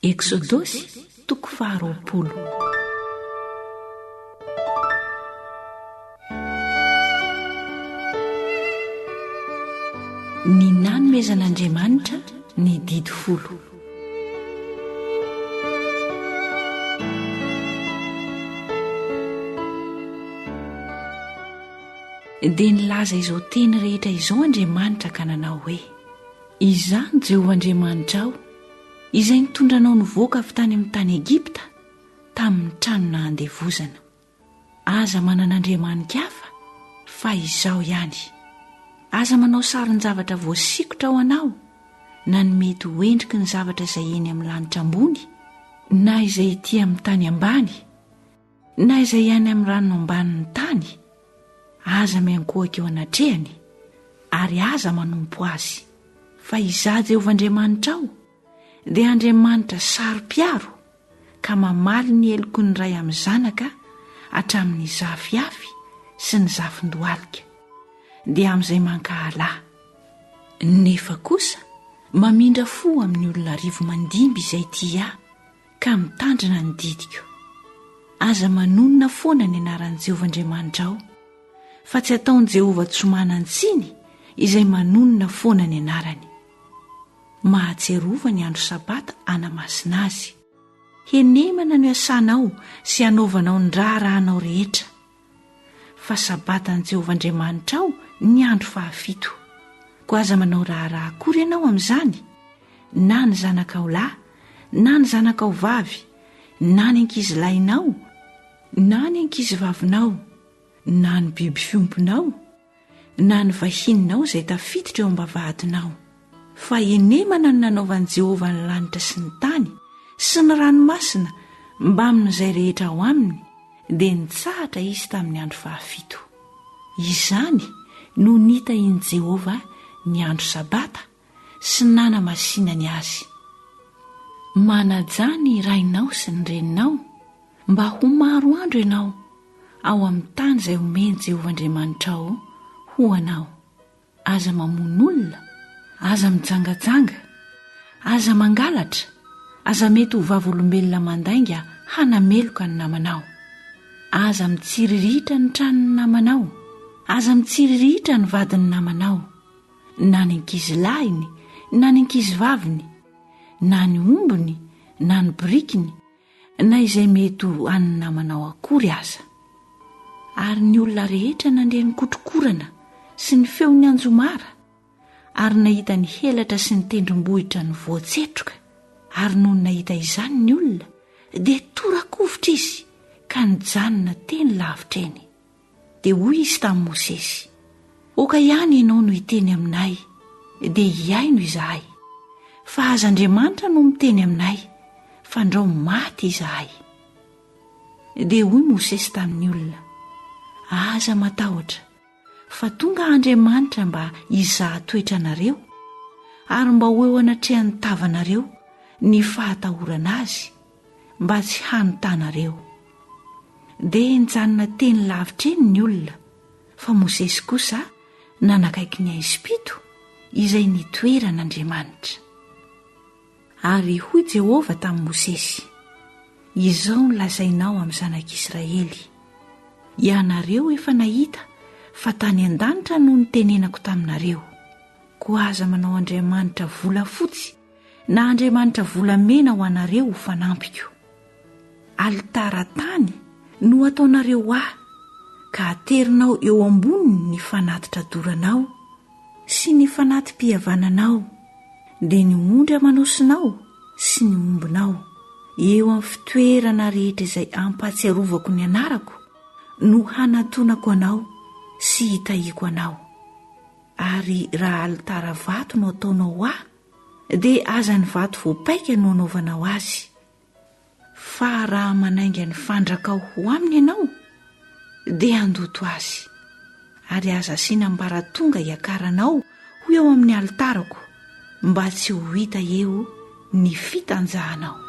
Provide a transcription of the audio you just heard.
Eksodosy toko faharoapolo. Ny nanomezan'Andriamanitra ny Didy Folo. Dia nilaza izao teny rehetra izao Andriamanitra ka nanao hoe, Izaho ny Jehovah Andriamanitrao, Izay nitondra anao nivoaka avy tany amin'ny tany Egypta, tamin'ny tranona handevozana. Aza manana andriamanika hafa fa Izaho ihany. Aza manao sarin-javatra voasikotra ho anao, na ny mety ho endriky ny zavatra izay eny amin'ny lanitra ambony, na izay ety amin'ny tany ambany, Na izay any amin'ny rano ambanin'ny tany, aza miankohaka eo anatrehany, ary aza manompo azy. Fa Izaho Jehovah Andriamanitrao, dia Andriamanitra saro-piaro, ka mamaly ny heloky ny ray amin'ny zanaka hatramin'ny zafiafy sy ny zafin-dohalika, dia amin'izay mankahala Ahy. Nefa kosa mamindra fo amin'ny olona arivo mandimby izay tia Ahy, ka mitandrina ny didiko. Aza manonona foana ny anaran'i Jehovah Andriamanitrao, fa tsy ataon'i Jehovah tsy manan-tsiny izay manonona foana ny anarany. Mahatsiarova ny andro Sabata hanamasina azy. Henemana no iasanao sy hanaovanao ny raharahanao rehetra. fa sabatan'i Jehovah Andriamanitrao ny andro fahafito. Koa aza manao raharaha akory ianao amin'izany, na ny zanakao lahy, na ny zanakao vavy, na ny ankizilahinao, na ny ankizivavinao, na ny biby fiompinao, na ny vahininao izay tafiditra eo am-bavahadinao, fa henemana ny nanaovan'i Jehovah ny lanitra sy ny tany sy ny ranomasina mbamin'izay rehetra ao aminy, dia nitsahatra izy tamin'ny andro fahafito. Izany no nitahian'i Jehovah ny andro Sabata. sy nanamasinany azy. Manajà ny rainao sy ny reninao mba ho maro andro ianao ao amin'ny tany izay omen'i Jehovah Andriamanitrao ho anao. Aza mamono olona, aza mijangajanga, aza mangalatra, aza mety ho vavolombelona mandainga hanameloka ny namanao. Aza mitsiriritra ny tranon'ny namanao, aza mitsiriritra ny vadin'ny namanao. na ny ankizy lahiny na ny ankizy vaviny na ny ombony na ny birikiny na izay mety ho an'ny namanao akory aza ary ny olona rehetra nandre ny kotrokorana sy ny feon'ny anjomara ary nahita ny helatra sy ny tendrombohitra ny voatsetroka ary noho ny nahita izany ny olona dia torakovitra izy ka nijanona teny lavitra eny Dia hoy izy tamin'i Mosesy, Oka ihany ianao no hiteny aminay, dia hihaino izahay. Fa aza Andriamanitra no miteny aminay, fandrao maty izahay. Dia hoy Mosesy tamin'ny olona, Aza matahotra, fa tonga Andriamanitra mba hizaha toetra anareo, ary mba ho eo anatrehan'ny tavanareo ny fahatahorana azy, mba tsy hanontanareo. Dia nijanona teny lavitra eny ny olona, fa Mosesy kosa nanakaiky ny haizim-pito izay nitoeran'Andriamanitra. Ary hoy Jehovah tamin'i Mosesy, Izao no lazainao amin'ny zanak'Israely, Ianareo efa nahita fa tany an-danitra no nitenenako taminareo, koa aza manao andriamanitra volafotsy Na andriamanitra volamena ho anareo ho fanampiko. Alitara tany no ataonareo ahy, ka aterinao eo amboniny ny fanatitra doranao sy ny fanati-pihavananao, dia ny ondry aman'osinao sy ny ombinao, eo amin'ny fitoerana rehetra izay ampahatsiarovako ny anarako, no hanantonako anao sy hitahiako anao. Ary raha alitara vato no ataonao ahy, Dia aza ny vato voapaika no anaovanao azy. Fa raha manainga ny fandrakao ho aminy ianao, dia andoto azy. Ary aza asiana ambaratonga hiakaranao ho eo amin'ny alitarako, mba tsy ho hita eo ny fitanjahanao.